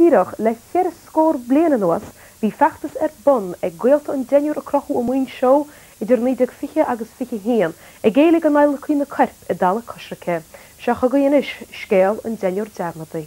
D'ídigh le cheithre scór bliain anuas, bhí feachtas ar bun ag gaolta an deichniúir a crochadh i Muinseo idir 1920 agus 21, ag éiligh go n-adhlacfaí na coirp i dtalamh coisricthe. Seo chugainn anois scéal an deichniúir dearmadta.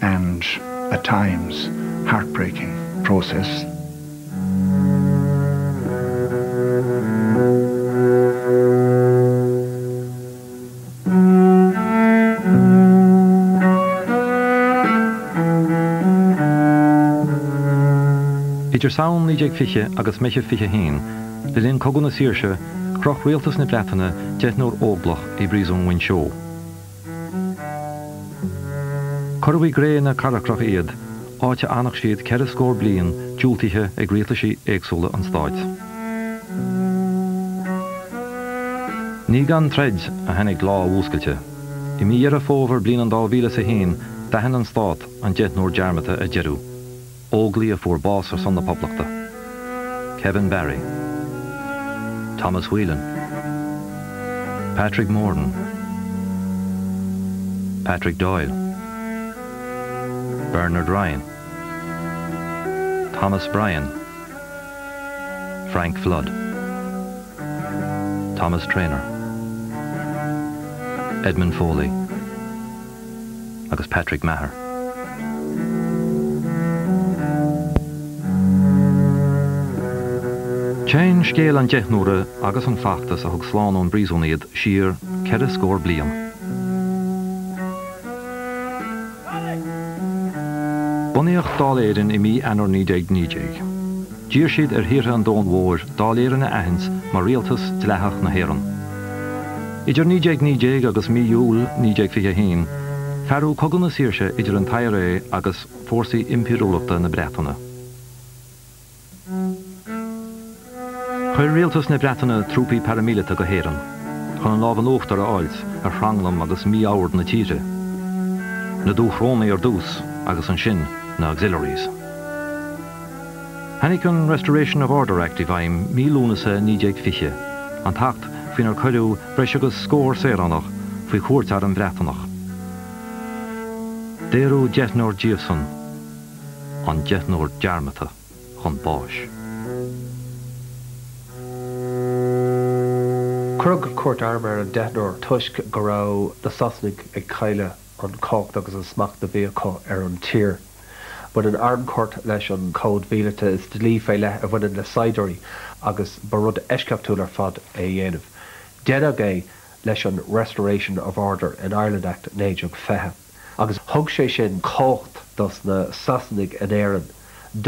and at times heartbreaking process. Idir Samhain 1920 agus Meitheamh 21, le linn Cogadh na Saoirse, chroch rialtas na Breataine deichniúr óglach i bPríosún Mhuinseo. Cuireadh i gcré na carcrach iad, áit a bhfanfadh siad ceithre scór bliain, diúltaithe ag rialtaisí éagsúla an stáit. Ní gan troid a tháinig lá a bhfuascailte. I mí Dheireadh Fómhair bliain an dá mhíle is a haon, d'aithin an stát an deichniúr dearmadta ar deireadh. Óglaigh a fuair bás ar son na Poblachta, Kevin Barry, Thomas Whelan, Patrick Morton, Patrick Doyle, Bernard Ryan, Thomas Bryan, Frank Flood, Thomas Traynor, Edmund Foley. agus Patrick Maher. Téann scéal an deichniúir agus an feachtas a thug slán ón bpríosún iad siar ceithre scór bliain. Bunaíodh Dáil Éireann i mí Eanáir 1919. D'iarr siad ar thíortha an domhain mhóir Dáil Éireann a aithint mar rialtas dleathach na hÉireann. Idir 1919 agus mí Iúil 1921, fearadh Cogadh na Saoirse idir an t-IRA agus fórsaí impiriúlachta na Breataine. Chuir rialtas na Breataine trúpaí paraimíleata go hÉirinn chun an lámh in uachtar a fháilt ar thranglam agus mí-ord na tíre, na Dúchrónaigh ar dtús agus ansin na Auxiliaries. Tháinig an Restoration of Order Act i bhfeidhm mí Lúnasa 1920, an t-acht faoinar cuireadh breis agus scór saoránach faoi chúirt airm Bhreatnach. Daoradh deichniúr díobhsan, an deichniúr dearmadta, chun báis. Cuireadh cúirt airm ar an deichniúr toisc go raibh na Sasanaigh ag cailleadh. an chumhacht agus an smacht a bhí acu ar an tír. Baineann armchúirt leis an gcód míleata is dlí fé leith a bhaineann le saighdiúirí agus ba rud eisceachtúil ar fad é a dhéanamh. Deineadh é leis an Restoration of Order in Ireland Act 1920 agus thug sé sin cumhacht dos na Sasanaigh in Éirinn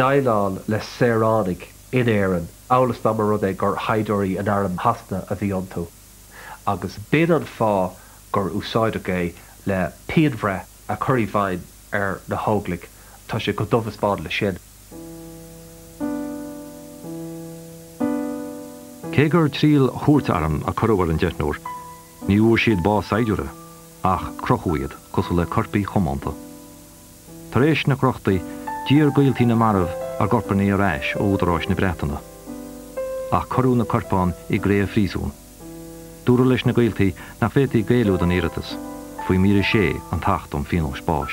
déileáil le saoránaigh in Éirinn amhail is dá mba rud é gur shaighdiúirí in arm Shasana a bhí iontu. agus b'in an fáth gur úsáideadh é le pianbhreith a chur i bhfeidhm ar na hóglaigh, tá sé chomh dubh is bán leis sin. Cé gur triail chúirt airm a cuireadh ar an deichniúr, ní bhfuair siad bás saighdiúra, ach crochadh iad, cosúil le coirpigh choitianta. Tar éis na crochtaí, d'iarr gaoltaí na marbh a gcorpáin ar ais ó údaráis na Breataine. Ach cuireadh na corpáin i gcré an phríosúin. Dúradh leis na gaoltaí nach bhféadfaí géilleadh don iarratas, faoi mhír 6 den Acht um Phíonós Báis.